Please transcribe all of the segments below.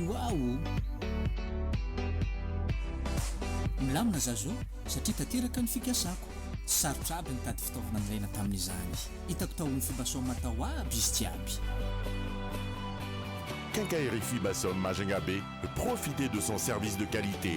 Waouh! Milamina za zao satria tanteraka ny fikasako. Tsy sarotra aby nitady fitaovana nilaina tamin'izany. Hitako tao amin'ny Fibasom tao aby izy jiaby. Quincaillerie Fibasom Majunga Bay, profitez de son service de qualité.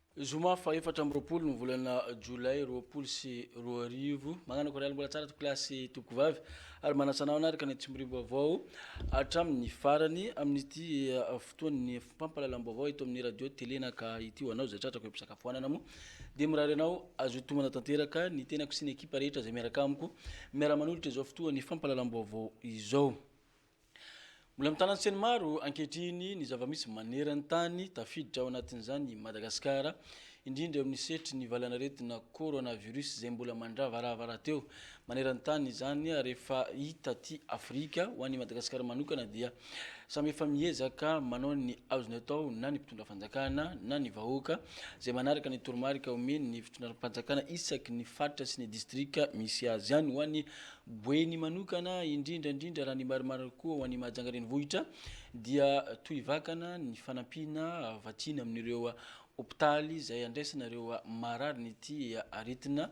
Zoma faha efatra amby roapolo ny volana jolay roapolo sy roa arivo. Mañana koraly mbola tsara tompokolahy sy tompokovavy ary manasa anao hanaraka ny antsimorim-baovao hatramin'ny farany amin'ity fotoan'ny fampahalalam-baovao eto amin'ny radio tele naka ity ho anao izay tratrako eo am-pisakafoanana moa dia mirary anao azo tomana tanteraka ny tenako sy ny ekipa rehetra izay miaraka amiko miara-manolotra izao fotoan'ny fampahalalam-baovao izao. Mbola mitana an-tseny maro ankehitriny ny zava-misy maneran-tany, tafiditra ao anatin'izany i Madagasikara, indrindra eo amin'ny sehatry ny valanaretina coronavirus izay mbola mandravarava rahateo maneran-tany izany ary efa hita aty Afrika. Ho an'i Madagasikara manokana dia samy efa miezaka manao ny azony atao na ny mpitondra fanjakana na ny vahoaka izay manaraka ny toromarika omen'ny fitondram-panjakana isaky ny faritra sy ny distrika misy azy. Any ho any Boeny manokana, indrindra indrindra raha ny marimarina kokoa ho an'i Mahajanga renivohitra, dia toy vakana ny fanampiana vatsiny amin'ireo hopitaly izay andraisana ireo mararin'ity aretina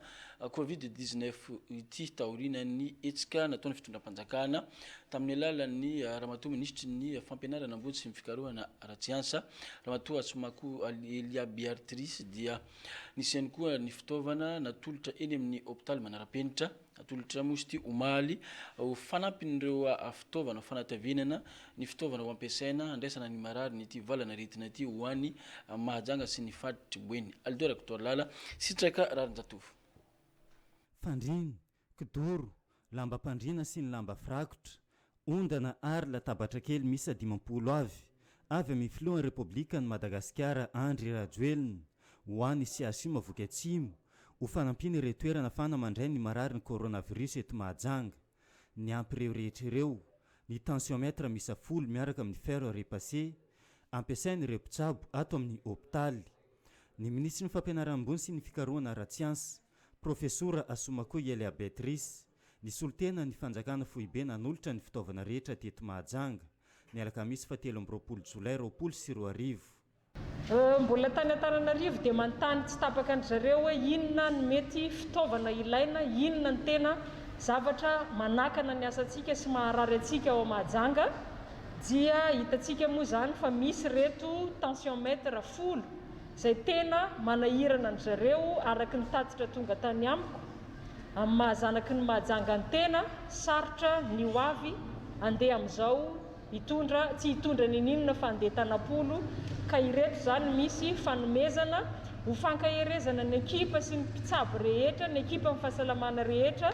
covid dix-neuf ity taorianan'ny hetsika nataon'ny fitondram-panjakana tamin'ny alalan'ny Ramatoa Minisitry ny Fampianarana ambony sy ny Fikarohana ara-tsiansa, Ramatoa Atsoumako Elia Beartrice dia nisy ihany koa ny fitaovana natolotra eny amin'ny hopitaly manara-penitra. Atolotra moa izy ity omaly ho fanampin'ireo fitaovana fanatavenana ny fitaovana ho ampiasaina handraisana ny marary ny ity valan'aretina ity ho any Mahajanga sy ny faritry Boeny. Aldo Rakotoalala, Sitraka Raharinjatovo. Fandriana, kidoro, lambam-pandriana sy ny lamba firakotra, ondana ary latabatra kely miisa dimampolo avy avy amin'ny filohan'ny Repoblikan'i Madagasikara Andry Rajoelina ho an'ny CHU Mahavoky Atsimo ho fanampian'ireo toerana fana mandray ny mararin'ny coronavirus eto Mahajanga. Niampy ireo rehetra ireo ny tensiomètre miisa folo miaraka amin'ny fer à repasser ampiasain'ireo mpitsabo ato amin'ny hopitaly ny minisitry ny Fampianarana ambony sy ny fikarohana ara-tsiansa, Profesora Asomakoy Elia Beatrice, nisolo tena ny Fanjakana Foibe nanolotra ny fitaovana rehetra teto Mahajanga, ny alakamisy fahatelo amby roapolo jolay roapolo sy roa arivo. Mbola tany Antananarivo dia manontany tsy tapaka an-dry zareo hoe inona ny mety fitaovana ilaina, inona ny tena zavatra manakana ny asantsika sy maharary antsika ao Mahajanga dia hitantsika moa izany fa misy ireto tension mètre folo izay tena manahirana an-dry zareo araka ny tatitra tonga tany amiko, amin'ny maha zanaky ny Mahajanga ny tena, sarotra ny ho avy, andeha amin'izao hitondra, tsy hitondra ninininona fa andeha tanam-polo, ka ireto izany misy fanomezana ho fankaherezana ny ekipa sy ny mpitsabo rehetra, ny ekipan'ny fahasalamana rehetra,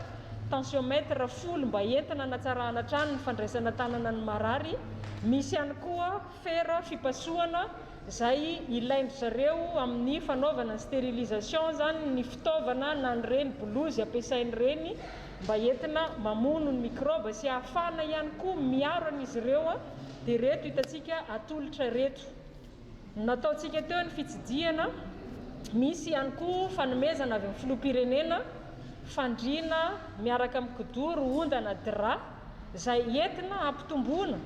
tensiomètre folo mba entina hanatsarahana hatrany ny fandraisana an-tanana ny marary, misy ihany koa fera fipasohana, izay ilain-dry zareo amin'ny fanaovana ny sterilisation izany ny fitaovana na ny reny bolozy ampiasain'ireny mba entina mamono ny mikraoba sy ahafahana ihany koa miaro an'izy ireo dia ireto hitantsika atolotra ireto nataontsika teo ny fitsidihana misy ihany koa fanomezana avy amin'ny filoham-pirenena fandriana miaraka amin'ny kidoro ondana drap izay entina hampitomboana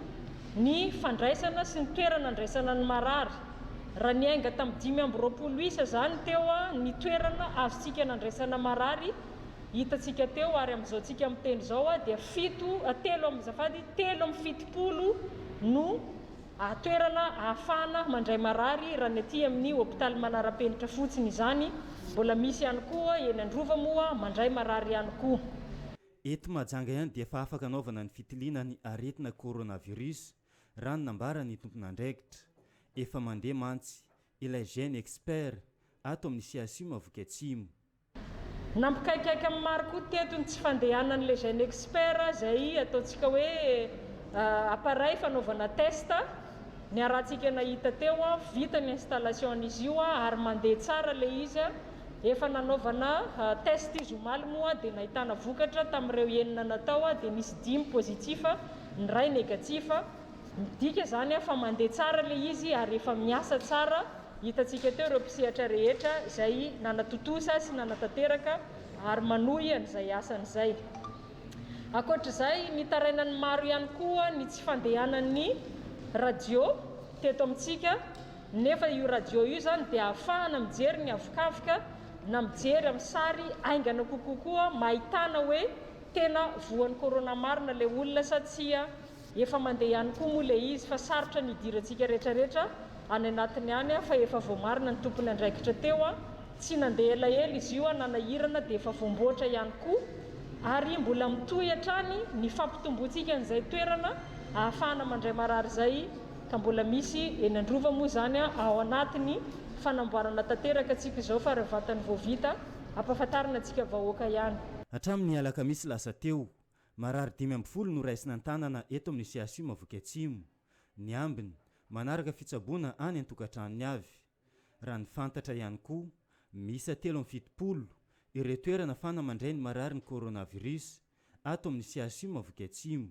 ny fandraisana sy ny toerana andraisana ny marary. Raha niainga tamin'ny dimy amby roapolo isa izany teo ny toerana azontsika nandraisana marary hitantsika teo ary amin'izao tsika miteny izao dia fito telo amby azafady telo amby fitopolo no toerana ahafahana mandray marary raha ny aty amin'ny hopitaly manara-penitra fotsiny izany. Mbola misy ihany koa eny Androva moa mandray marary ihany koa. Eto Mahajanga ihany dia efa afaka anaovana ny fitiliana ny aretina coronavirus raha ny nambaran'ny tompon'andraikitra. Efa mandeha mantsy ilay Gene Expert ato amin'ny CHU Mahaviky Atsimo. Nampikaikaika ny maro koa teto ny tsy fandehanan'ilay Gene Expert izay ataontsika hoe appareil fanaovana test Niarahantsika nahita teo, vita ny installation izy io ary mandeha tsara ilay izy, efa nanaovana test izy omaly moa dia nahitana vokatra, tamin'ireo enina natao dia nisy dimy positif, ny iray negatif, midika izany fa mandeha tsara ilay izy ary efa miasa tsara, hitantsika teo ireo mpisehatra rehetra izay nanatontosa sy nanatanteraka ary manohy an'izay asany izay. Ankoatra izay, nitaraina ny maro ihany koa ny tsy fandehanan'ny radio teto amintsika, nefa io radio io izany dia ahafahana mijery ny havokavoka na mijery amin'ny sary haingana kokoa koa mba ahitana hoe tena voan'ny corona marina ilay olona sa tsia Efa mandeha ihany koa moa ilay izy fa sarotra ny hidirantsika retraretra any anatiny any fa efa voamarina ny tompon' andraikitra teo a! Tsy nandeha elaela izy io a! Nanahirana dia efa voamboatra ihany koa ary mbola mitohy hatrany ny fampitomboantsika an'izay toerana ahafahana mandray marary izay ka mbola misy eny an-drova moa izany a! Ao anatin'ny fanamboarana tanteraka tsika izao fa raha vatany vao vita ampahafantarina antsika vahoaka ihany. Hatramin'ny alakamisy lasa teo, Marary dimy ambin'ny folo no raisina an-tanana eto amin'ny CHU Mahafoky Atsimo, ny ambiny, manaraka fitsaboana any an-tokantranony avy. Raha ny fantatra ihany koa, miisa telo amby fitopolo ireo toerana fana mandray ny mararin'ny coronavirus ato amin'ny CHU Mahafoky Atsimo.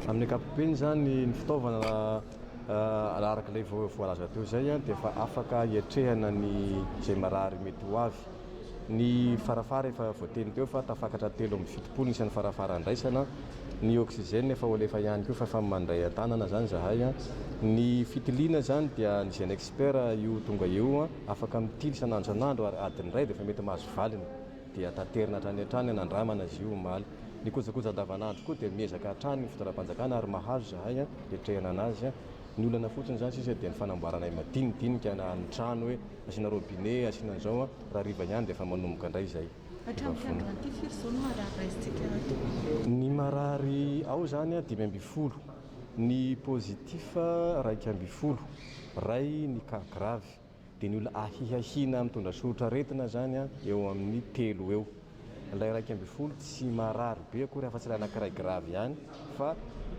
Amin'ny ankapobeny izany, ny fitaovana raha araka ilay voalaza teo izay dia efa afaka hiatrehana ny izay marary mety ho avy. Ny farafara efa voateny teo fa tafakatra telo amby fitopolo isany farafara andraisana, ny oxygène efa ho alefa ihany koa fa efa mandray an-tanana izany izahay. Ny fitiliana izany dia ny Genexpert io tonga eo afaka mitily isan'andro isan'andro ary adiny iray dia efa mety mahazo valiny dia taterina hatrany hatrany hanandramana izy io omaly. Ny kojakoja andavan'andro koa dia miezaka hatrany ny fitondram-panjakana ary mahazo izahay hiatrehana an'azy. Ny olana fotsiny izany sisa dia ny fanamboaranay madinidinika na ny trano hoe Asiana robinet, asiana an'izao an, raha hariva ihany dia efa manomboka indray izay. Hatramin'ity andro ity firy izao no marary raisintsika ato? Ny marary ao izany an, dimy ambin'ny folo, ny positif iraika ambin'ny folo, iray ny cas grave, dia ny olona ahiahiana mitondra soritr'aretina izany an, eo amin'ny telo eo. Ilay iraika ambin'ny folo tsy marary be akory afa-tsy ilay anankiray grave ihany fa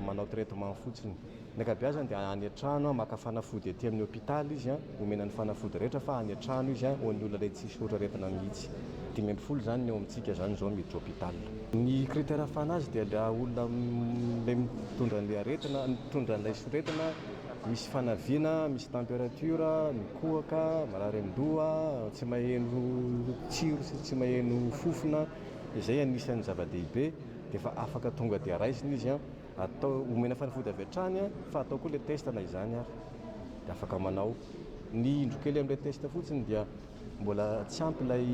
manao traitement fotsiny. Ny ankabeazany dia any an-trano, maka fanafody aty amin'ny hôpital izy, omena ny fanafody rehetra fa any an-trano izy ho an'ny olona ilay tsisy loatra aretina mihitsy. Dimy ambin'ny folo izany ny eo amintsika izany izao miditra hôpital. Ny critère fanazy dia ilay olona ilay mitondra an'ilay aretina, mitondra an'ilay soretina. Misy fanaviana, misy temperature, mikohaka, marary an-doha, tsy maheno tsiro sy tsy maheno fofona, izay anisan'ny zava-dehibe, dia efa afaka tonga dia raisina izy an, atao, omena fanafody avy hatrany an, fa atao koa ilay test na izany ary, dia afaka manao. Ny indro kely amin'ilay test fotsiny dia mbola tsy ampy ilay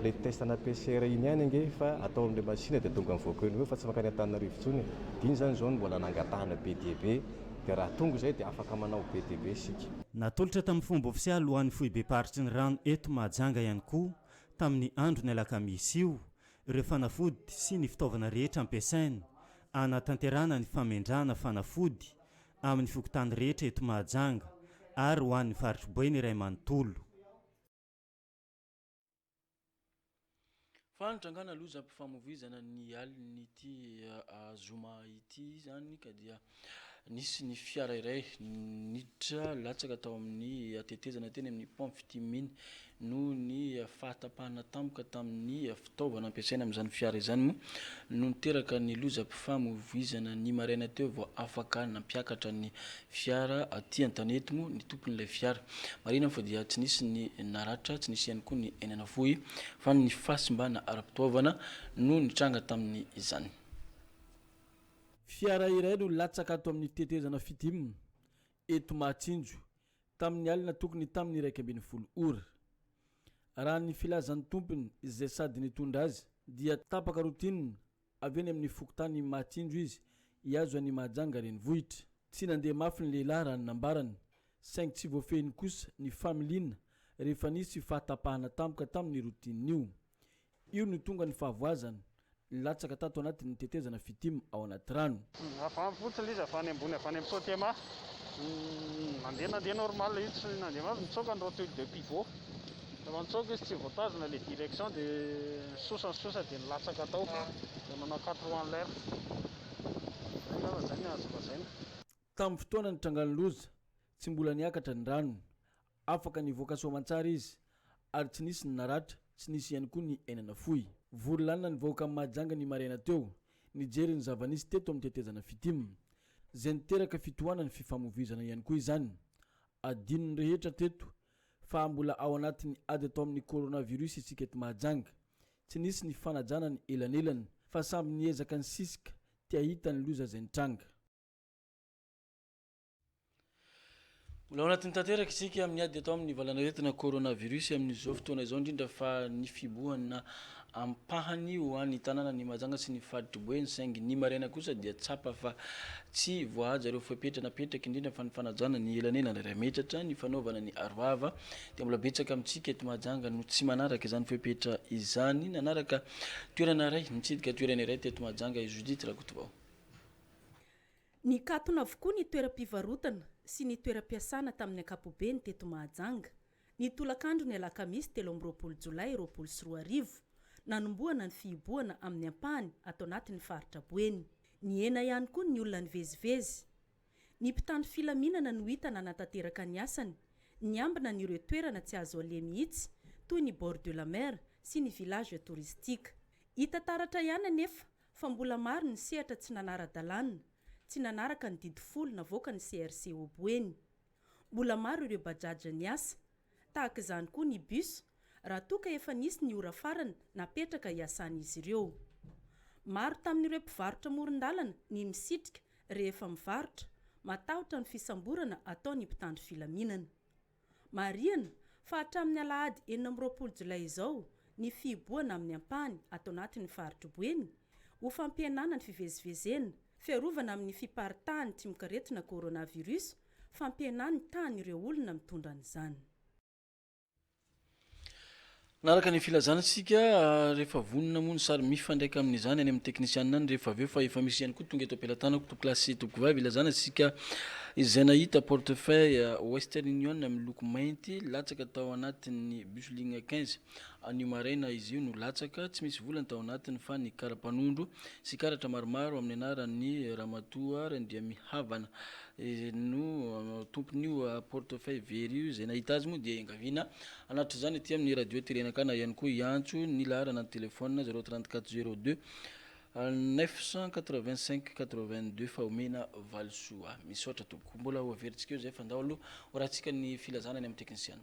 ilay test ana PCR iny ihany ange fa atao amin'ilay machine dia tonga mivoaka eo no eo fa tsy mankany Antananarivo intsony e, dia iny izany izao no mbola nangatahana be dia be. dia raha tonga izay dia afaka manao be dia be isika. Natolotra tamin'ny fomba ofisialy ho an'ny Foibem-paritry ny Rano eto Mahajanga ihany koa tamin'ny andron'ny alakamisy io ireo fanafody sy ny fitaovana rehetra ampiasaina hanatanterahana ny famendrahana fanafody amin'ny fokontany rehetra eto Mahajanga ary ho an'ny faritr'i Boeny iray manontolo. Fanitrangana lozam-pifamoivoizana ny alin'ity ah, zoma ity izany ka dia nisy ny fiara iray niditra latsaka tao amin'ny tetezana teny amin'ny pont Fitiminy noho ny fahatapahana tampoka tamin'ny fitaovana ampiasaina amin'izany fiara izany moa no niteraka ny lozam-pifamoivoizana ny maraina teo vao afaka nampiakatra ny fiara aty an-tanety moa ny tompon'ilay fiara. Marihina fa dia tsy nisy ny naratra, tsy nisy ihany koa ny aina navoy fa ny fahasimbana ara-pitoavana no nitranga tamin' izany. Fiara iray no latsaka ato amin'ny tetezana Fitim, eto Mahatsinjo, tamin'ny alina tokony tamin'ny iraika ambin'ny folo ora. Raha ny filazan'ny tompony izay sady nitondra azy dia tapaka roa tinina Avy any amin'ny fokontany Mahatsinjo izy, hihazo an'i Mahajanga renivohitra. Tsy nandeha mafy ny lehilahy raha ny nambarany, saingy tsy voafehiny kosa ny familiana rehefa nisy fahatapahana tampoka tamin'ny routine io. Io no tonga ny fahavoazany, nilatsaka tato anatin'ny tetezana Fitim ao anaty rano. Avy any fotsiny ilay izy avy any ambony avy any amin'ny Totema. Nandeha nandeha normal izy tsy nandeha mafy nitsoaka ny rotule de pivot. Rehefa nitsoaka izy tsy voatazona ilay direction dia sosa sosa dia nilatsaka tao. Dia nanao quatre roues en l'air. Izay angamba izay no azo lazaina. Tamin'ny fotoana nitrangan'ny loza, tsy mbola niakatra ny rano. Afaka nivoaka soamantsara izy ary tsy nisy ny naratra, tsy nisy ihany koa ny aina nafoy. Vory lanona ny vahoaka amin'i Mahajanga ny maraina teo, nijery ny zava-nisy teto amin'ny tetezana Fitim. Izay niteraka fitohanan'ny fifamoivoizana ihany koa izany. Adino ny rehetra teto fa mbola ao anatin'ny ady atao amin'ny coronavirus isika eto Mahajanga. Tsy nisy ny fanajana ny elanelana fa samby niezaka nisisika te hahita ny loza izay nitranga. Mbola ao anatiny tanteraka isika amin'ny ady atao amin'ny valanaretina coronavirus amin'izao fotoana izao indrindra fa ny fibohana ampahany ho any tanàna ny Mahajanga sy ny faritry Boeny saingy ny maraina kosa dia tsapa fa tsy voahaja ireo fepetra napetraky indrindra fa ny fanajana ny elanelana iray metatra ny fanaovana ny arovava dia mbola betsaka amintsika eto Mahajanga no tsy manaraka izany fepetra izany nanaraka toerana iray mitsidika toerana iray teto Mahajanga i Judith Rakotovao. Nikatona avokoa ny toeram-pivarotana sy ny toeram-piasana tamin'ny ankapobeny teto Mahajanga, ny tolakandron'ny alakamisy telo amby roapolo jolay roapolo sy roa arivo, nanombohana ny fihibohana amin'ny ampahany ato anatin'ny faritra Boeny. Nihena ihany koa ny olona nivezivezy. Ny mpitandro filaminana no hita nanatanteraka ny asany, niambina an'ireo toerana tsy azo aleha mihitsy toy ny bord de la mer sy ny village touristique. Hita taratra ihany anefa Fa mbola maro ny sehatra tsy nanara-dalàna, tsy nanaraka ny didy folo navoakan'ny CRC Oboeny. Mbola maro ireo Bajaj niasa. Tahaka izany koa ny bus, raha toa ka efa nisy ny ora farany napetraka hiasan'izy ireo. Maro tamin'ireo mpivarotra amoron-dalana ny misitrika rehefa mivarotra, matahotra ny fisamborana ataon'ny mpitandro filaminana. Marihana fa hatramin'ny alahady enina amby roapolo jolay izao ny fihibohana amin'ny ampahany ato anatin'ny faritr'i Boeny ho fampihenana ny fivezivezena, fiarovana amin'ny fiparitahan'ny tsimok'aretina coronavirus, fampihenana ny tahan'ireo olona mitondra an'izany. Nanaraka ny filazana isika rehefa vonona moa ny sary mifandraika amin'izany any amin'ny teknisianina any rehefa avy eo fa efa misy ihany koa tonga eto am-pelatanako topilahy sy tompivavy ilazana isika izay nahita portefeuille Western Union miloko mainty latsaka tao anatin'ny bus ligne quinze. Anio maraina izy io no latsaka, tsy misy vola ny tao anatiny fa ny kara-panondro sy karatra maromaro amin'ny anaran'ny ramatoa Randriamihavana. Ezenino, tompon'io portefeuille very io, izay nahita azy moa dia iangaviana hanatrizany aty amin'ny Radio Terenaka na ihany koa hiantso ny laharana an-telefaonina zéro trente quatre zéro deux neuf cent quatre vingt cinq quatre vingt deux fa omena valisoa. Misaotra tompoko. Mbola ho averintsika eo izay fa ndao aloha horahintsika ny filazana any amin'ny teknisiana.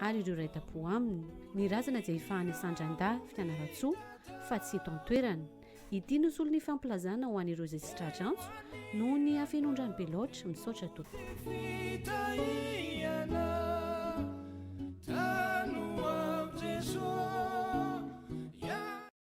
ary ireo raitapo aminy. Ny razana dia ifahana isandran-da fianarantsoa fa tsy eto an-toerana. Ity no solon'ny fampilazana ho an'ireo izay tsy tra-drantso noho ny hafenoan-drano be loatra. Misaotra tompoko.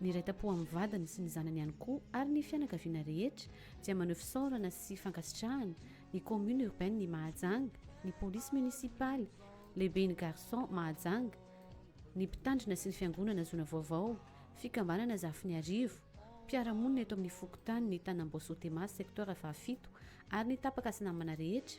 niray tampo amin'ny vadiny sy ny zanany ihany koa ary ny fianakaviana rehetra dia maneho fisaorana sy fankasitrahana ny commune urbaine ny Mahajanga, ny police municipale, lehiben'ny garçon Mahajanga, ny mpitandrina sy ny fiangonana zona vaovao, fikambanana Zafiniarivo, mpiara-monina eto amin'ny fokontany ny tanamboasoa Tema secteur fahafito ary ny tapaka sy namana rehetra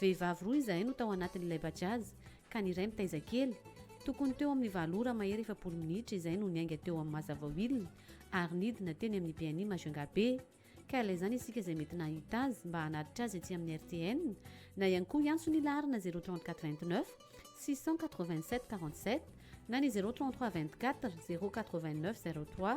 Vehivavy roa izahay no tao anatin'ilay Bajaj ka ny iray mitaiza kely. Tokony teo amin'ny valo ora mahery efapolo minitra izahay no niainga teo amin'ny Mazavawill ary nidina teny amin'ny BNI Majunga be. Ka ilay izany isika izay mety nahita azy mba hanatitra azy ety amin'ny RTN na ihany koa hiantso ny laharana zéro trente quatre vingt neuf six cent quatre vingt sept quarante sept na ny zéro trente trois vingt quatre zéro quatre vingt neuf zéro trois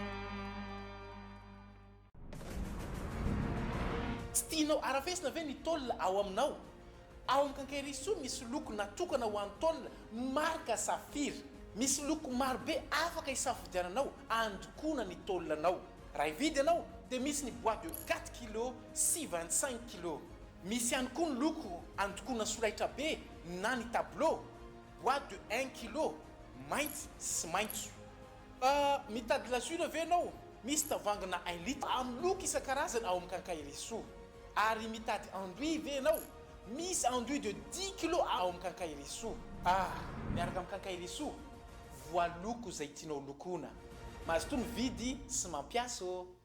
Tsy tianao arafesina ve ny tôl ao aminao? Ao amin'ny Kankerisoa misy loko natokana ho an'ny tôl marika Saphir. Misy loko maro be afaka isafidiananao andokoana ny tôl anao. Raha hividy ianao dia misy ny bois de quatre kilos sy vingt cinq kilos. Misy ihany koa ny loko andokoana solaitra be na ny tableau, bois de un kilo, mainty sy maitso. Fa mitady glaçure ve ianao? Misy tavangina un litre amin'ny loko isan-karazany ao amin'ny Quincaillerie-Soa. Ary mitady anduit ve ianao? Misy anduit de dix kilos ao amin'ny Quincaillerie-Soa. Ah! Miaraka amin'ny Quincaillerie-Soa, voaloko izay tianao lokoina. Mazotoa mividy sy mampiasa ô!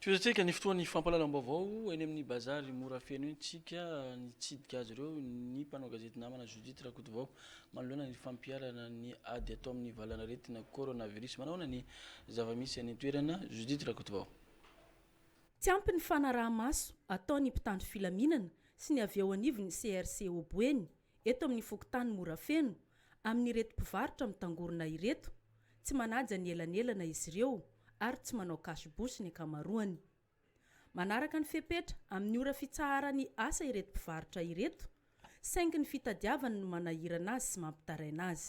Tohizantsika ny fotoan'ny fampahalalam-baovao eny amin'ny bazary mora feno eny tsika. Nitsidika azy ireo ny mpanao gazety namana Judith Rakotovao manoloana ny fampiharana ny ady atao amin'ny valanaretina coronavirus. Manahoana ny zava-misy any an-toerana? Judith Rakotovao. Tsy ampy ny fanaraha-maso ataon'ny mpitandro filaminana sy ny avy eo anivon'ny CRC Obo eny Eto amin'ny fokontany Morafeno, amin'ireto mpivarotra mitangorona ireto, tsy manaja ny elanelana izy ireo ary tsy manao cash bouche ny ankamaroany. Manaraka ny fepetra amin'ny ora fitsaharan'ny asa ireto mpivarotra ireto, saingy ny fitadiavany no manahirana azy sy mampitaraina azy.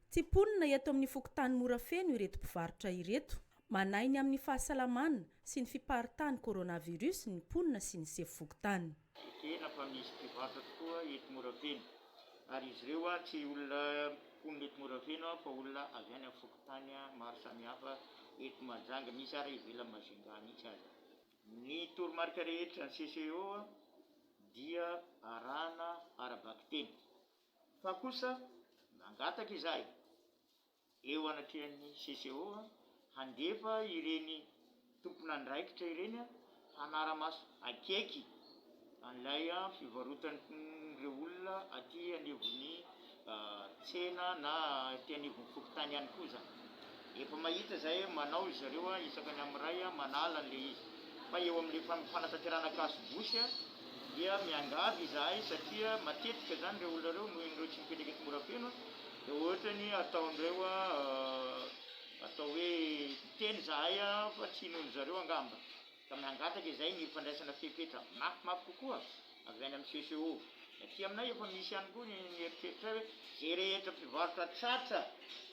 Tsy mponina eto amin'ny fokontany Morafeno ireto mpivarotra ireto. Manahy ny amin'ny fahasalamana sy ny fiparitahan'ny coronavirus ny mponina sy ny sefo fokontany. Ekena fa misy mpivarotra tokoa eto Morafeno ary izy ireo tsy olona mponina eto Morafeno fa olona avy any amin'ny fokontany maro samihafa eto Mahajanga, misy ary ivelan'i Majunga mihitsy aza. Ny toromarika rehetra ny CCO dia arahana ara-bakiteny. Fa kosa nangataka izahay, eo anatrehan'ny CCO, handefa ireny tompon'andraikitra ireny hanara-maso akaiky an'ilay fivarotan'ireo olona aty anivon'ny tsena na aty anivon'ny fokontany ihany koa izany. Efa mahita zay manao izareo a isaka ny am ray a manala an le izy fa eo am le fanatanterahana casse bouche dia miangavy izahay satria matetika zany reo olona reo noho ireo tsy mipetraka eto Morafeno a dia ohatrany ataondreo a atao hoe miteny zahay a fa tsy inoan'izareo angamba. ka mangataka izay ny fandraisana fepetra mafimafy kokoa avy any amin'ny CCO. Ny aty aminay efa misy ihany koa ny eritreritray hoe izay rehetra mpivarotra tratra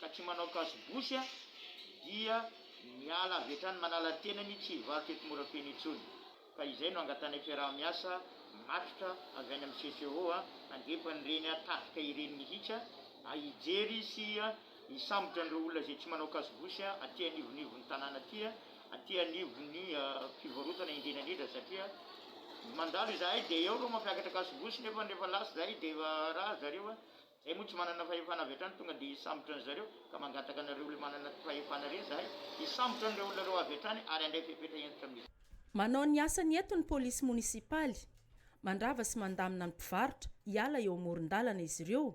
ka tsy manao kasobosy dia miala avy hatrany manala tenany tsy hivarotra eto Morafeno intsony. Ka izay no angatanay fiaraha-miasa matroka avy any amin'ny CCO handrefa an'ireny tafika ireny mihitsy hijery sy Hisambotra an'ireo olona izay tsy manao kasobosy aty anivonivon'ny tanàna aty, aty anivon'ny fivarotana indrindraindrindra satria mandalo izahay dia eo ireo mampiakatra kasobosy nefa rehefa lasa izahay dia efa raha ry zareo, izahay moa tsy manana fahefana avy hatrany tonga dia hisambotra an'i zareo ka mangataka anareo ilay manana fahefana ireny izahay hisambotra an'ireo olona ireo avy hatrany ary handray fepetra hentitra amin'izy. Manao ny asany eto ny polisy monisipaly, mandrava sy mandamina ny mpivarotra hiala eo amoron-dalana izy ireo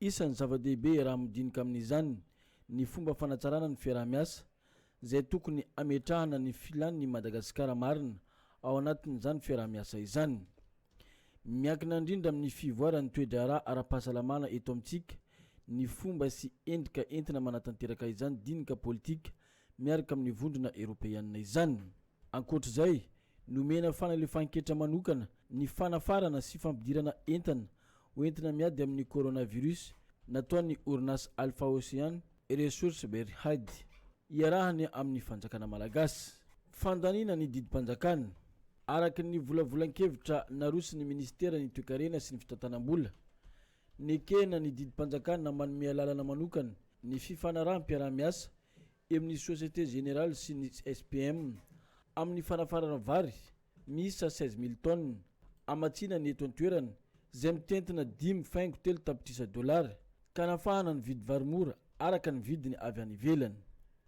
Isan'ny zava-dehibe raha midinika amin'izany ny fomba fanatsarana ny fiaraha-miasa, izay tokony hametrahana ny filan'ny Madagasikara marina ao anatin'izany fiaraha-miasa izany. Miankina indrindra amin'ny fivoaran'ny toe-draharaha ara-pahasalamana eto amintsika ny fomba sy endrika entina manatanteraka izany dinika politika miaraka amin'ny Vondrona Eropeanina izany. Ankoatra izay, nomena fanalefahan-ketra manokana ny fanafarana sy fampidirana entana ho entina miady amin'ny coronavirus nataon'ny orinasa Alpha Ocean Resources Berhad iarahany amin'ny fanjakana malagasy. Fandaniana ny didim-panjakana. Araka ny volavolan-kevitra naroson'ny minisiteran'ny Toekarena sy ny fitantanam-bola, nekena ny didim-panjakana manome alalana manokana ny fifanaraham-piaraha-miasa eo amin'ny Société Générale sy ny SPM amin'ny fanafarana vary miisa seize mille tonnes hamatsiana ny eto an-toerana izay mitentina dimy faingo telo tapitrisa dolara ka hanafahana ny vidy vary mora araka ny vidiny avy any ivelany.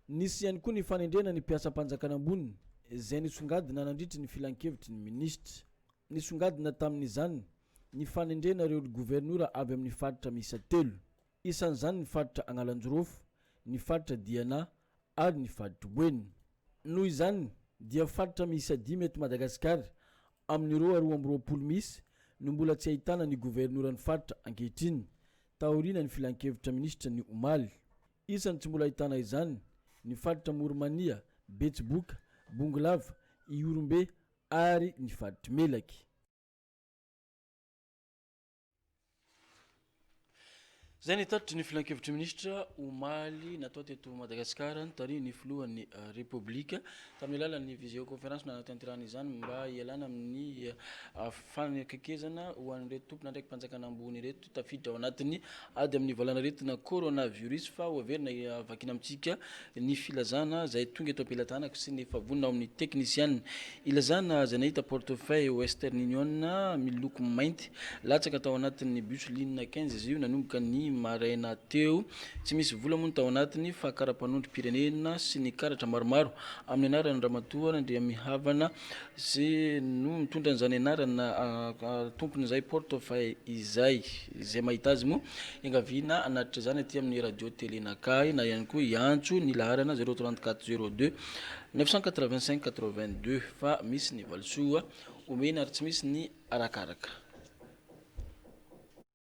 Nisy ihany koa ny fanendrena ny mpiasam-panjakana ambony izay nisongadina nandritry ny filankevitry ny minisitra. Nisongadina tamin'izany ny fanendrena ireo governora avy amin'ny faritra miisa telo. Isan'izany ny faritra Agnalajorofo, ny faritra Diana ary ny faritr'i Boeny. Noho izany dia faritra miisa dimy eto Madagasikara amin'ny roa roa amby roapolo misy no mbola tsy ahitana ny governoran'ny faritra ankehitriny, taorianan'ny filankevitra minisitra ny omaly. Isan'ny tsy mbola ahitana izany ny faritra Moromania, Betsiboka, Bongolava, Ihorombe ary ny faritr'i Melaky. Izay ny tatitry ny filan-kevitry minisitra omaly natao teto Madagasikara notarihin'ny filohan'ny eh, Repoblika tamin'ny alalan'ny visioconférence nanatanterahana izany mba hialana amin'ny eh, fanekekizana ho an'ireto tompon'andraiki-panjakana ambony ireto tafiditra ao anatin'ny ady amin'ny valanaretina coronavirus fa ho averina eh, vakina amintsika ny filazana izay tonga eto am-pelatanako sy ny efa vonona ao amin'ny teknisiana. Ilazana izay nahita portefeuille Western Union miloko mainty latsaka tao anatin'ny bus ligne quinze izy io nanomboka ny maraina teo. Tsy misy vola moa ny tao anatiny fa kara-panondrom-pirenena sy ny karatra maromaro amin'ny anaran'i Ramatoa Randriamihavana Ze no mitondra an'izany anarana tompon'izay porte fay izay. Izay mahita azy moa iangaviana hanatitra izany aty amin'ny Radio Télé Nakahy na ihany koa hiantso ny laharana 034 02 985 82 fa misy ny valisoa omena ary tsy misy ny arakaraka.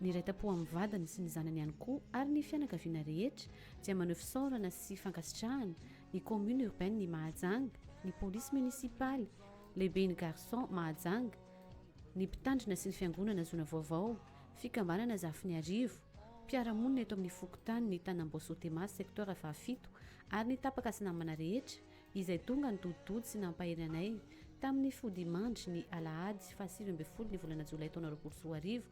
Niray tampo amin'ny vadiny sy ny zanany ihany koa ary ny fianakaviana rehetra dia maneho fisaorana sy fankasitrahana ny Commune Urbaine Mahajanga, ny Polisy Munisipaly, Lehiben'ny Garçon Mahajanga, ny Mpitandrina sy ny Fiangonana Zona Vaovao, Fikambanana Zafiniarivo, mpiara-monina eto amin'ny Fokontanin'i Tanamboasotema Secteur fahafito ary ny tapaka sy namana rehetra izay tonga nitoditody sy nampahery anay tamin'ny fodiman-dry ny Alahady fahasivy ambin'ny folo ny volana Jolay taona roapolo sy roa arivo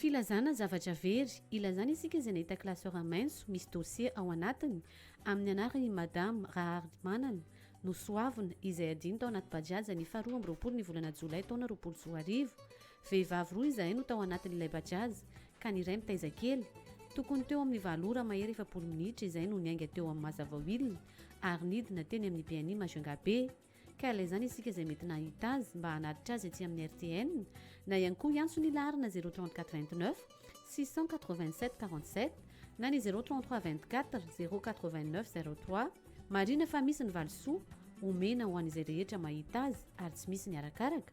Filazana zavatra very, ilazana isika izay nahita classeur maitso misy dossier ao anatiny amin'ny anaran' i Madame Raharimanana Nosoavina izay adino tao anaty Bajaj ny faha roa amby roapolo ny volana jolay taona roapolo sy roa arivo Vehivavy roa izahay no tao anatin'ilay Bajaj ka ny iray mitaiza kely. Tokony teo amin'ny valo ora mahery efapolo minitra izahay no niainga teo amin'ny Mazavawill ary nidina teny amin'ny BNI Majunga Bay. Ka ilay izany isika izay mety nahita azy mba hanatitra azy ety amin'ny RTN na ihany koa hiantso ny laharana zéro trente quatre vingt neuf six cent quatre vingt sept quarante sept na ny zéro trente trois vingt quatre zéro quatre vingt neuf zéro trois. Marina fa misy ny valisoa omena ho an'izay rehetra mahita azy ary tsy misy ny arakaraka,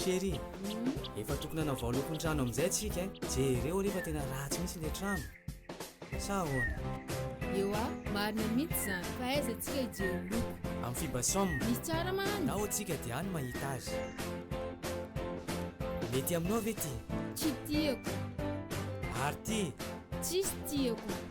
Chérie, efa tokony hanao vaolokontrano amin'izay tsika eh. Jereo rehefa tena ratsy mihitsy ilay trano. Sa ahoana? Eo ah, marina mihitsy izany. Fa aiza tsika hijery loko? Amin'ny fiba som. Misy tsara mahany. Nao tsika dia any mahita azy. Mety aminao ve ty? Tsy tiako. Ary ty? Tsisy tiako.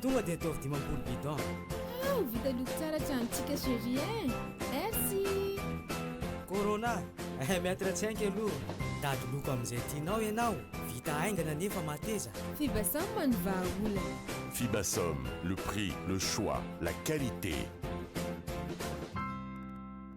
Tonga dia ataovy dimampolo bidon. Hoo vita loko tsara tsy antsika chérie eh! Merci! Corona, eh maitre tsy hainga aloha. Dady loko amin'izay tianao ianao, vita haingana nefa mateza. Fibasam no vahaolana. Fibasam, le prix, le choix, la qualité.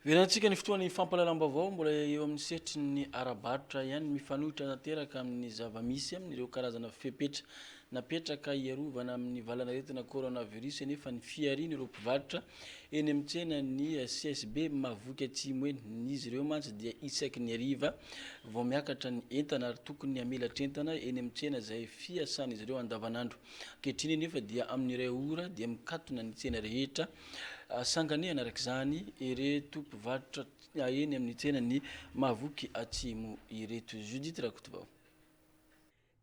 Velantsika ny fotoan'ny fampahalalam-baovao mbola eo amin'ny sehatry ny ara-barotra ihany, mifanohitra tanteraka amin'ny zava-misy amin'ireo karazana fepetra napetraka hiarovana amin'ny valan'aretina coronavirus anefa ny fiharian'ireo mpivarotra eny amin'ny tsenan'ny CSB Mahavoky Atsimo eny. Izy ireo mantsy dia isaky ny hariva vao miakatra ny entana ary tokony hamelatra entana eny amin'ny tsena izay fiasan'izy ireo andavanandro. Ankehitriny anefa dia amin'ny iray ora dia mikatona ny tsena rehetra Sanganehana araka izany ireto mpivarotra eny amin'ny tsenan'i Mahavoky Atsimo ireto. Judith Rakotovao.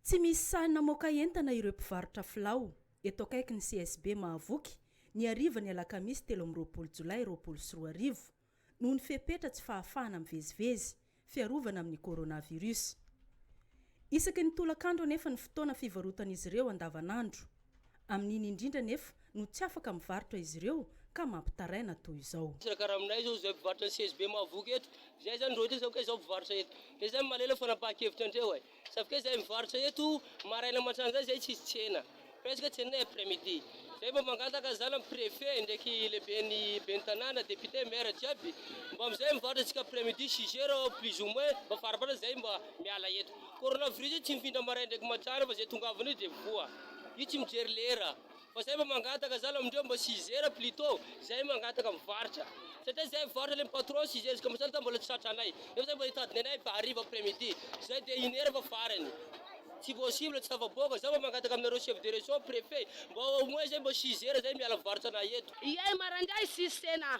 Tsy misy sahy namoaka entana ireo mpivarotra filao, eto akaikin'ny CSB Mahavoky, ny harivan'ny alakamisy telo amby roapolo jolay roapolo sy roa arivo. noho ny fepetra tsy fahafahana mivezivezy fiarovana amin'ny coronavirus. Isaky ny tolakandro anefa ny fotoana fivarotan'izy ireo andavanandro. Amin'iny indrindra anefa no tsy afaka mivarotra izy ireo ka mampitaraina toy izao. Tsy karaha aminay izao izay mpivarotra ny CSB mahavoky eto. Izay izany roa hetsy izao ka izao mpivarotra eto. Dia izay no mahalala ny fanapahan-kevitra an-dreo e. Zafika zay mivarotra eto maraina mantrany zay zay tsisy tsena presque tsena après midi zay mba mangataka zany am prefet ndraiky lehibeny ben'ny tanàna député maire jiaby mba amzay mivarotra tsika après midi six heures plus ou moins mba faraparany zay mba miala eto coronavirus io tsy mifindra maraina ndraiky mantrany fa zay tongavana io de voa io tsy mijery lera Fa zay mba mangataka zala amindreo mba sizer plutot zay mangataka mivarotra satria zay mivarotra le patron sizer izy ka mba zany zany mbola tsy tratra anay nefa zany mba hitady ny anay hariva après midi zay dia une heure fa farany tsy possible tsy tafavoaka za mba mangataka aminareo chef de region prefet mba au moins zay mba sizer zay miala mivarotra anay eto. Iay marandray sisy tsena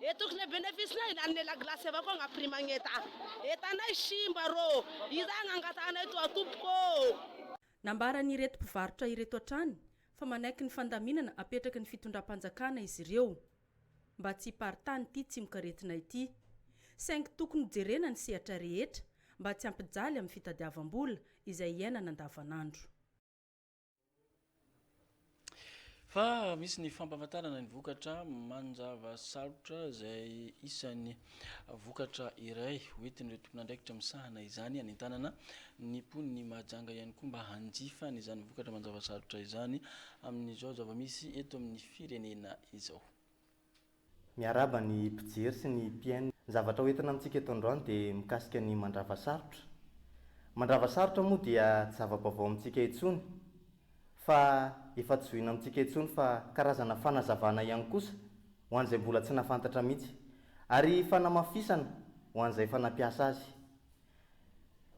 E tokony e benefisy nay lanine la glace avao koa gn'aprix magneta e tanay simba rô iza agnangatahanay toa tompoko ô. Nambaran'ireto mpivarotra ireto hatrany fa manaiky ny fandaminana apetraky ny fitondram-panjakana izy ireo mba tsy hiparitany ity tsimokaretina ity. Saingy tokony hojerena ny sehatra rehetra mba tsy hampijaly amin'ny fitadiavam-bola izay iainana andavanandro. Fa misy ny fampahafantarana ny vokatra manjava sarotra izay isan'ny vokatra iray ho entin'ireo tompon'andraikitra misahana izany hanentanana ny mponin'i Mahajanga ihany koa mba hanjifa an'izany vokatra manjava sarotra izany amin'izao zava-misy eto amin'ny firenena izao. Miarahaba ny mpijery sy ny mpien. Ny zavatra ho entina amintsika eto androany dia mikasika ny mandrava sarotra. Mandrava sarotra moa dia tsy zava-baovao amintsika intsony fa efa tsy zohina amintsika intsony fa karazana fanazavana ihany kosa ho an'izay mbola tsy nahafantatra mihitsy ary fanamafisana ho an'izay efa nampiasa azy.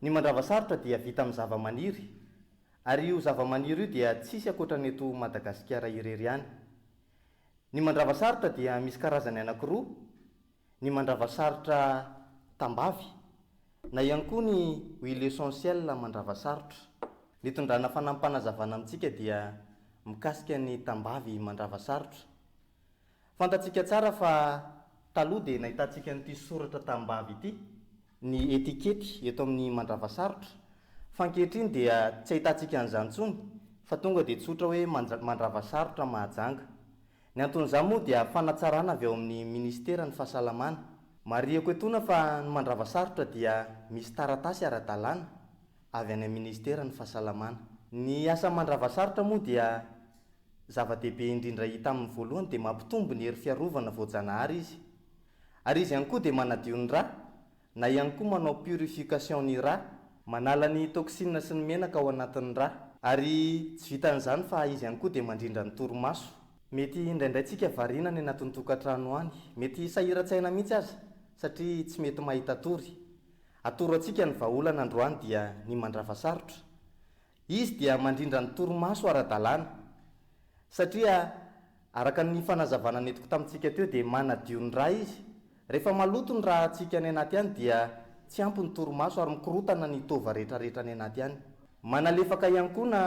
Ny mandrava sarotra dia vita amin'ny zava-maniry ary io zava-maniry io dia tsisy ankoatra ny eto Madagasikara irery ihany. Ny mandrava sarotra dia misy karazany anankiroa, ny mandrava sarotra tambavy, na ihany koa ny huile essentielle mandrava sarotra. Ny tondrana fanampim-panazavana amintsika dia mikasika ny tambavy mandrava sarotra. Fantatsika tsara fa taloha dia nahitantsika an'ity soratra tambavy ity ny etikety eto amin'ny mandravasarotra, fa ankehitriny dia tsy ahitantsika an'izany intsony fa tonga dia tsotra hoe mandravasarotra Mahajanga. Ny anton'izany moa dia fanatsarana avy ao amin'ny Minisiteran'ny Fahasalamana. Marihiko etoana fa ny mandravasarotra dia misy taratasy ara-dalàna avy any amin'ny Minisiteran'ny Fahasalamana. Ny asa mandravasarotra moa dia zava-dehibe indrindra hita amin'ny voalohany dia mampitombo ny hery fiarovana voajanahary izy. Ary izy ihany koa dia manadio ny rà, na ihany koa manao purification ny rà, manala ny toxine sy ny menaka ao anatin'ny rà, ary tsy vitan'izany fa izy ihany koa dia mandrindra ny torimaso. Mety indraindray tsika variana any anatin'ny tokantrano any, mety sahiran-tsaina mihitsy aza satria tsy mety mahita tory. Atoro antsika ny vahaolana androany dia ny mandrava sarotra. Izy dia mandrindra ny torimaso ara-dalàna, satria araka ny fanazavana nentiko tamintsika teo dia manadio ny ra izy. Rehefa maloto ny rantsika any anaty any dia tsy ampy ny torimaso ary mikorotana ny tova rehetrarehetra any anaty any. Manalefaka ihany koa na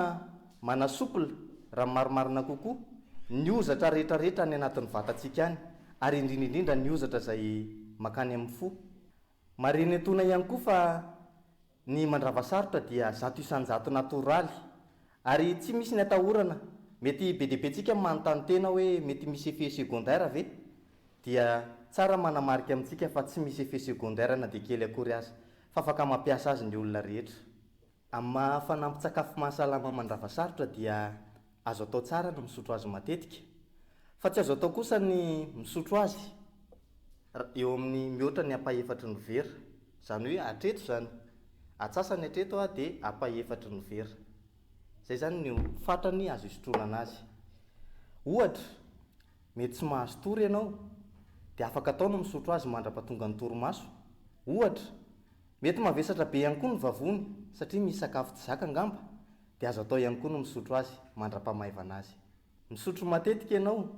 manasouple, raha ny marimarina kokoa, ny hozatra rehetrarehetra any anatin'ny vatantsika any, ary indrindra indrindra ny hozatra izay makany amin'ny fo. Marenentona ihany koa fa Ny mandrava sarotra dia zato isan-jato natoraly. Ary tsy misy ny atahorana. Mety be dia be tsika manontany tena hoe mety misy effet secondaire ve? Dia tsara manamarika amintsika fa tsy misy effet secondaire na dia kely akory aza. Fa afaka mampiasa azy ny olona rehetra. Amin'ny maha fanampin-tsakafo mahasalama mandrava sarotra dia Azo atao tsara ny misotro azy matetika, fa tsy azo atao kosa ny misotro azy eo amin'ny mihoatra ny ampahefatry ny vera. Izany hoe hatreto izany, atsasany hatreto dia ampahefatry ny vera. Izay izany no fatrany azo hisotronana azy. Ohatra, mety tsy mahazo tory ianao, dia afaka atao ny misotro azy mandra-pahatonga ny torimaso, ohatra. Mety mavesatra be ihany koa ny vavony, satria misy sakafo tsy zaka angamba, dia azo atao ihany koa ny misotro azy mandra-pamaivana azy. Misotro matetika ianao,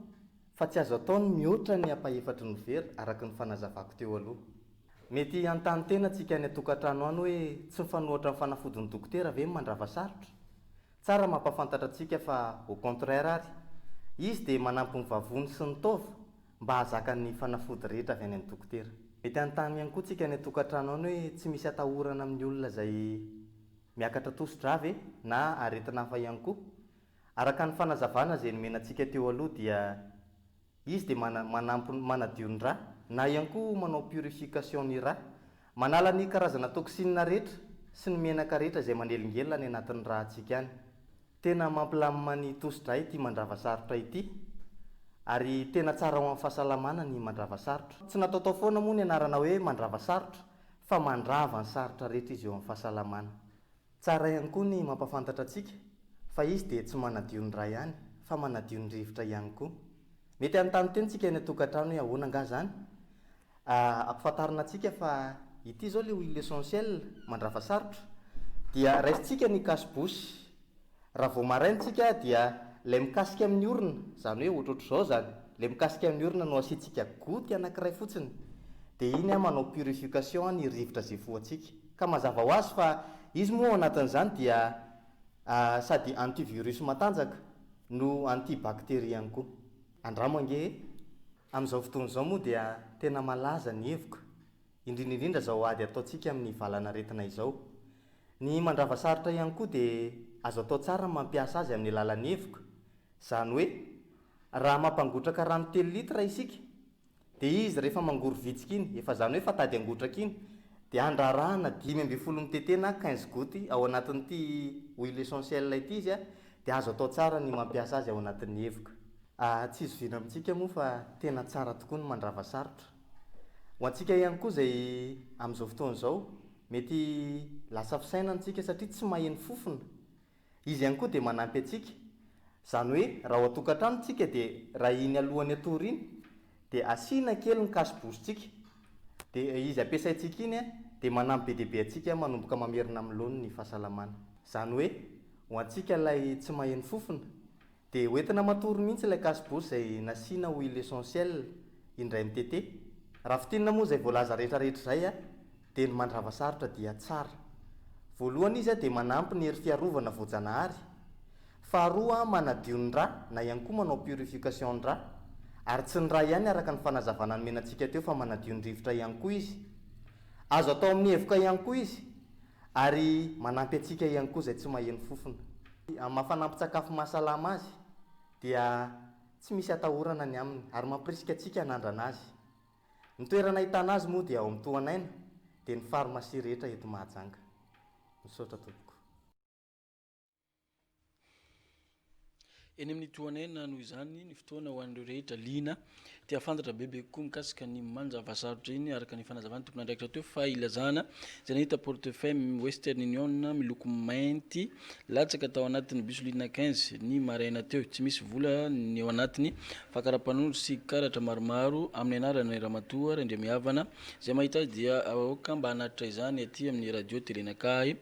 fa tsy azo atao ny mihoatra ny ampahefatry ny vera araka ny fanazavako teo aloha. Mety hanontany tena antsika any an-tokantrano any hoe tsy mifanohatra amin'ny fanafodin'ny dokotera ve ny mandrava sarotra? Tsara mampahafantatra antsika fa au contraire ary, izy dia manampy ny vavony sy ny taova mba hahazaka ny fanafody rehetra avy any amin'ny dokotera. Mety hanontany ihany koa antsika any an-tokantrano any hoe tsy misy atahorana amin'ny olona izay. Miakatra tosi-drà ve na aretina hafa ihany koa? Araka ny fanazavana izay nomena antsika teo aloha dia izy dia mana, manampy, manadio ny rà na ihany koa manao purification ny rà. Manala ny karazana toxines rehetra sy ny menaka rehetra izay manelingelina any anatin'ny rà antsika any. Tena mampilamina ny tosi-drà ity mandrava sarotra ity ary tena tsara ho an'ny fahasalamana ny mandrava sarotra. Tsy nataotao foana moa ny anarana hoe mandrava sarotra fa mandrava ny sarotra rehetra izy eo amin'ny fahasalamana. Tsara ihany koa ny mampahafantatra antsika fa izy dia tsy manadio ny ra ihany fa manadio ny rivotra ihany koa. Mety hanontany teny isika eny an-tokantrano hoe ahoana angaha izany? Ampifantarina antsika fa ity izao ilay huile essentielle mandrava sarotra dia raisintsika ny cache bouche. Raha vao maraina tsika dia ilay mikasika amin'ny orona, izany hoe ohatrohatr'izao izany, ilay mikasika amin'ny orona no asiantsika goty anankiray fotsiny, dia iny manao purification ny rivotra izay voantsika. Ka mazava ho azy fa izy moa ao anatin'izany dia sady antivirus matanjaka no antibacterie ihany koa. Andramo ange e! Amin'izao fotoana izao moa dia tena malaza ny hevoka, indrindra indrindra izao ady ataontsika amin'ny valanaretina izao. Ny mandrava sarotra ihany koa dia azo atao tsara ny mampiasa azy amin'ny alalan'ny hevoka. Izany hoe, raha mampangotraka rano telo litre isika, dia izy rehefa mangory vitsika iny, efa izany hoe fatady angotraka iny, dia andrarahana dimy ambin'ny folo mitete na quinze gouttes ao anatin'ity huile essentielle ity izy, dia azo atao tsara ny mampiasa azy ao anatin'ny hevoka. Tsy zoviana amintsika moa fa tena tsara tokoa ny mandrava sarotra. Ho antsika ihany koa izay amin'izao fotoana izao Mety lasa fisainana isika satria tsy maheno fofona. Izy ihany koa dia manampy antsika. Izany hoe raha ao an-tokantrano isika dia raha iny alohan'ny hatory iny dia asiana kely ny kaso-borotsika dia izy ampiasaintsika iny dia manampy be dia be antsika manomboka mamerina amin'ny laoniny ny fahasalamana. Izany hoe ho antsika ilay tsy maheno fofona Dia ho entina matory mihitsy ilay case-bouse izay nasiana ho il essentiel indray mitete. Raha fintinina moa izay voalaza rehetra rehetra izay dia ny mandrava sarotra dia tsara. Voalohany izy dia manampy ny hery fiarovana voajanahary. Faharoa manadio ny ra na ihany koa manao purification ny ra. Ary tsy ny ra ihany araka ny fanazavana nomenantsika teo fa manadio ny rivotra ihany koa izy. Azo atao amin'ny hevoka ihany koa izy. Ary manampy antsika ihany koa izay tsy maheno fofona. Amin'ny maha fanampin-tsakafo mahasalama azy, dia tsy misy atahorana ny aminy, ary mampirisika antsika hanandrana azy. Ny toerana ahitana azy moa dia ao amin'ny Tohan'aina, dia ny farmasia rehetra eto Mahajanga. Misaotra tompoko. Eny amin'ny tohan'aina, noho izany, ny fotoana ho an'ireo rehetra liana te hahafantatra bebe kokoa mikasika ny manja vahasarotra iny, araka ny fanazavan'ny tompon'andraikitra teo fa ilazana izay nahita portefeuille Western Union miloko mainty latsaka tao anatin'ny bus ligne quinze ny maraina teo. Tsy misy vola ny ao anatiny fa karapanondro sy karatra maromaro amin'ny anaran'ny ramatoa Randriamihavana. Izay mahita azy dia aoka mba hanatitra izany aty amin'ny radio Telenakahy.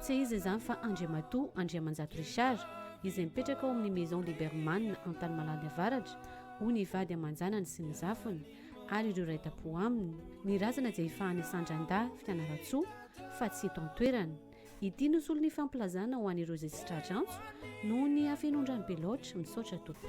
Tsy iza izany fa Andriamatoa Andriamanjato Richard, izay mipetraka ao amin'ny Maison Liberman Antanimalaly Avaratra, hoy ny vady aman-janany sy ny zafiny ary ireo iray tam-po aminy. Ny razana dia efa any Sandrandahy, Fianarantsoa, fa tsy eto an-toerana. Ity no solon'ny fampilazana ho an'ireo izay tsy tratra antso noho ny hafenon-drano be loatra. Misaotra tompoko.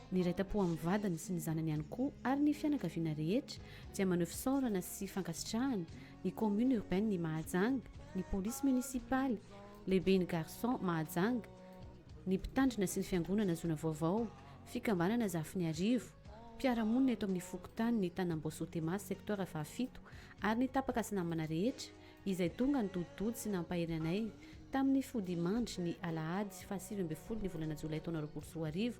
Niraita-po amin'ny vadiny sy ny zanany ihany koa ary ny fianakaviana rehetra dia maneho fisaorana sy fankasitrahana ny Commune Urbaine i Mahajanga, ny Police Municipaly, Lehiben'ny Garçon Mahajanga, ny Mpitandrina sy ny Fiangonana Zona Vaovao, Fikambanana Zafiniarivo, mpiara-monina eto amin'ny Fokontany Tanambao-Sotema Secteur fahafito ary ny tapaka sy namana rehetra izay tonga nitoditody sy nampahery anay tamin'ny fodiamandry ny Alahady fahasivy ambin'ny folo ny volana Jolay taona roapolo sy roa arivo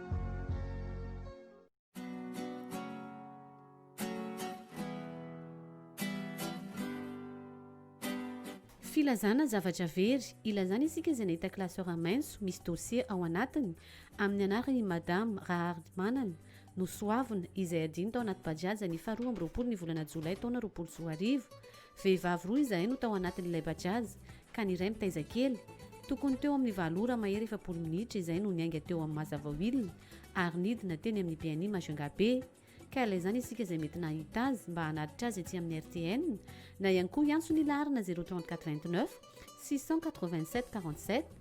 Filazana zavatra very, ilazana isika izay nahita classeur maitso misy dossier ao anatiny amin'ny anaran' i Madame Raharimanana Nosoavina izay adino tao anaty Bajaj ny faha roa amby roapolo ny volana jolay taona roapolo sy roa arivo Vehivavy roa izahay no tao anatin'ilay Bajaj ka ny iray mitaiza kely. Tokony teo amin'ny valo ora mahery efapolo minitra izahay no niainga teo amin'ny Mazhavao Hill ary nidina teny amin'ny Biani Majunga Bay. Ka ilaizany isika izay mety nahita azy mba hanatitra azy etsy amin'ny RTN na ihany koa hiantso ny laharana zéro trente quatre vingt neuf six cent quatre vingt sept quarante sept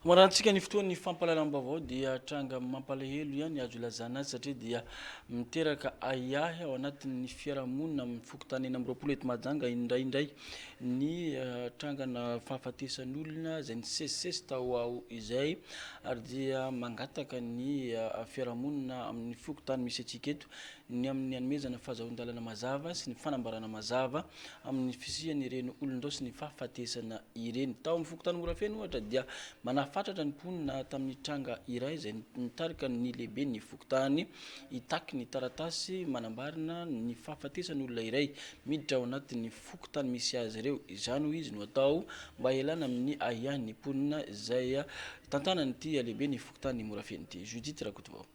Maranintsika ny fotoan'ny fampahalalam-baovao dia tranga mampalahelo ihany azo ilazana azy satria dia miteraka ahiahy ao anatin'ny fiarahamonina amin'ny fokontany enina amby roapolo eto Mahajanga indraindray ny eh, trangana fahafatesan'olona izay nisesisesy tao aho izay ary dia mangataka ny eh, fiarahamonina amin'ny fokontany misy antsika eto ny amin'ny hanomezana ny fahazahoan-dalana mazava sy ny fanambarana mazava amin'ny fisian'ireny olon-drao sy ny fahafatesana ireny. Tao amin'ny fokontany Morafeno, ohatra, dia manafatratra ny mponina tamin'ny tranga iray izay nitarika ny lehiben'ny fokontany hitaky ny taratasy manambarana ny fahafatesan'olona iray miditra ao anatin'ny fokontany misy azy ireo. Izany, hoy izy, no atao mba hialana amin'ny ahiahin'ny mponina izay tantanan'ity lehiben'ny fokontany Morafeno ity, Judith Rakotovao.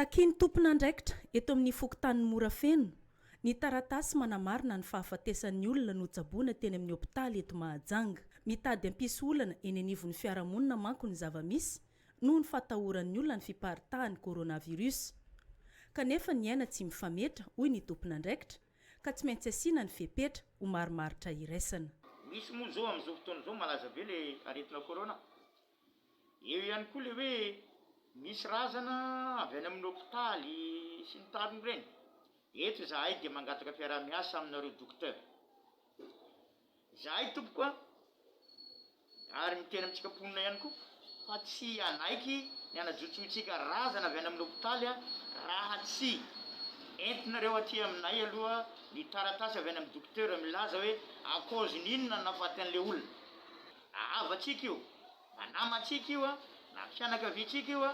Takian'ny tompon'andraikitra eto amin'ny fokontanin'i Morafeno ny taratasy manamarina ny fahafatesan'ny olona notsaboina teny amin'ny hopitaly eto Mahajanga. Mitady hampisy olana eny anivon'ny fiarahamonina manko ny zava-misy noho ny fatahoran'ny olona ny fiparitahan'ny coronavirus. Kanefa ny aina tsy mifametra, hoy ny tompon'andraikitra, ka tsy maintsy asiana ny fepetra ho marimaritra iraisana. Misy moa izao amin'izao fotoana izao malaza be ilay aretina corona Eo ihany koa ilay hoe misy razana avy any amin'ny hopitaly sy ny tariny ireny. Eto izahay dia mangataka fiaraha-miasa aminareo Docteur. Izahay tompoko a, ary miteny amintsika mponina ihany koa fa tsy hanaiky ny hanajotsointsika razana avy any amin'ny hopitaly raha tsy entinareo aty aminay aloha ny taratasy avy any amin'ny Docteur milaza hoe à cause-n'inona nahafaty an'ilay olona. Na havatsika io, na namantsika io, na fianakaviantsika io,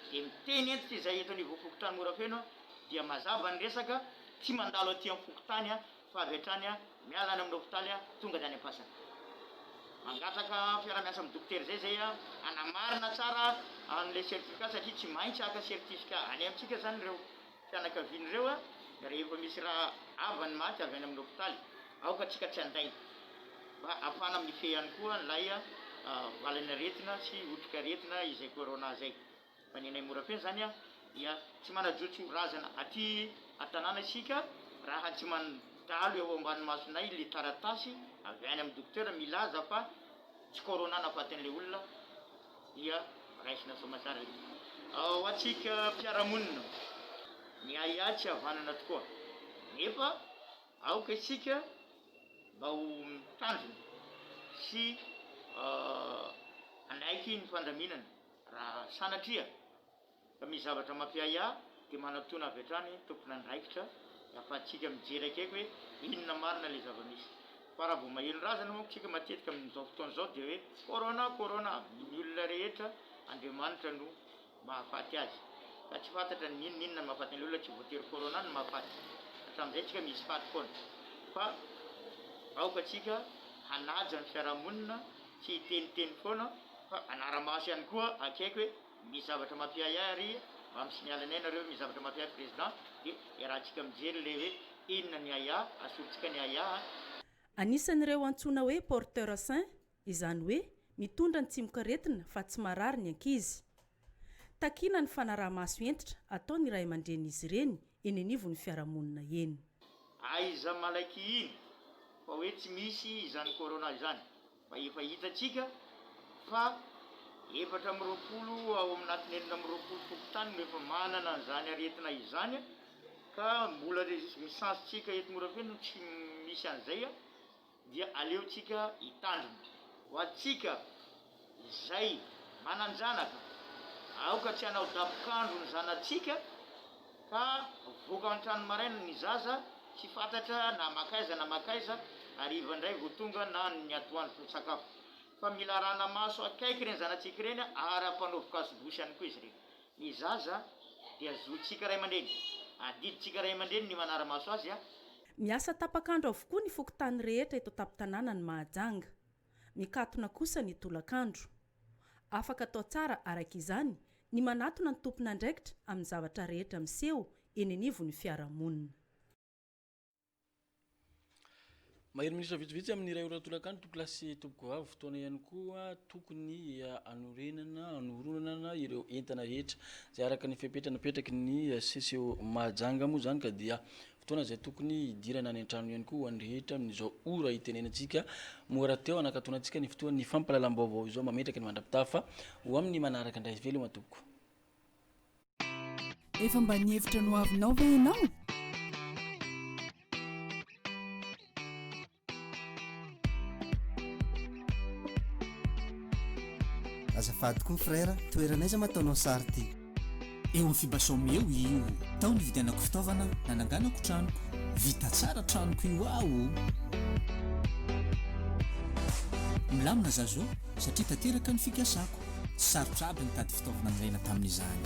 dia miteny hentitra izay eto anivon'fokontany Morafeno aho dia mazava ny resaka, tsy mandalo aty amin'ny fokontany fa avy hatrany miala any amin'ny hopitaly tonga any Ampasana. Mangataka fiarahamiasa amin'ny dokotera izay izay hanamarina tsara an'ilay certificat satria tsy maintsy haka certificat any amintsika izany ireo. fianakavian'ireo rehefa misy ra havany maty avy any amin'ny hopitaly, aoka tsika tsy handainga mba hahafahana mifehy ihany koa an'ilay valan'aretina sy otrik'aretina izay corona izay, fa ny anay Morafeno izany dia tsy manajotso razana aty an-tanàna isika raha tsy mandalo eo ambany masonay ilay taratasy avy any amin'ny dokotera milaza fa tsy corona nahafaty an'ilay olona dia raisina soamatsara io. Ho antsika mpiara-monina, ny ahiahy tsy havanana tokoa, nefa aoka isika mba ho mitandrina sy hanaiky ny fandaminana raha sanatria. Fa misy zavatra mampiahy ahy dia manatona avy hatrany tompon'andraikitra afahantsika mijery akaiky hoe inona marina ilay zava-misy. Fa raha vao maheno razana manko isika matetika amin'izao fotoana izao dia hoe corona, corona, ny olona rehetra Andriamanitra no mahafaty azy. Ka tsy fantatra ny inona inona no mahafaty an'ilay olona, tsy voatery corona no mahafaty. Hatramin'izay isika misy faty foana. Fa aoka isika hanaja ny fiarahamonina, tsy hiteniteny foana fa hanara-maso ihany koa akaiky hoe Misy zavatra mampiahy ahy ary mba misy miala ny ahy nareo misy zavatra mampiahy ahy président de iarahantsika mijery ilay hoe inona ny ahy ahy asorintsika ny ahy ahy a. Anisan'ireo antsoina hoe porteur sain, izany hoe mitondra ny tsimokaretina fa tsy marary ny ankizy. Takiana ny fanaraha-maso hentitra ataon'ny ray aman-drenin'izy ireny eny anivon'ny fiarahamonina eny. Aiza malaky iny fa hoe tsy misy izany corona izany fa efa hitantsika fa efatra amby roapolo ao aminatiny enina amby roapolo fokontany no efa manana an'izany aretina izany ka mbola le ny chance-tsika eto Morafeno no tsy misy an'izay a! dia aleontsika hitandrina. Ho antsika izay manan-janaka, aoka tsy hanao dabokandro ny zanatsika fa voaka an-trano maraina ny zaza tsy fantatra na mankaiza na mankaiza, hariva indray vao tonga na ny atoandro vao sakafo. Fa mila arahana maso akaiky ireny zanatsika ireny ary ampanao vokazo bosy ihany koa izy ireny. Ny zaza dia zontsika ray aman-dreny, adidintsika ray aman-dreny ny manara-maso azy. Miasa tapak'andro avokoa ny fokontany rehetra eto an-tampon-tanànan'i Mahajanga. Mikatona kosa ny tolakandro. Afaka atao tsara araka izany ny manatona ny tompon'andraikitra amin'ny zavatra rehetra miseho eny anivon'ny fiarahamonina. Mahery minisitra vitsivitsy amin'ny iray ora tolakandro tompoko lahy sy tompoko vavy. Fotoana ihany koa tokony hanorenana, hanoronana ireo entana rehetra izay araka ny fepetra napetraky ny CCO Mahajanga moa izany ka dia Fotoana izay tokony hidirana any an-trano ihany koa ho an'ny rehetra amin'izao ora itenenantsika moa rahateo hanakatona antsika ny fotoan'ny fampahalalam-baovao izao mametraka ny mandra-pitafa ho amin'ny manaraka indray veloma tompoko. Efa mba nihevitra ny hoavinao ve ianao? Azafady koa frère, toerana aiza ma ataonao sary ty? Eo amin'ny Fibasom eo io. Tao nividianako fitaovana nananganako tranoko. Vita tsara tranoko io aho o! Milamina za zao satria tanteraka ny fikasako. Tsy sarotra aby nitady fitaovana nilaina tamin'izany.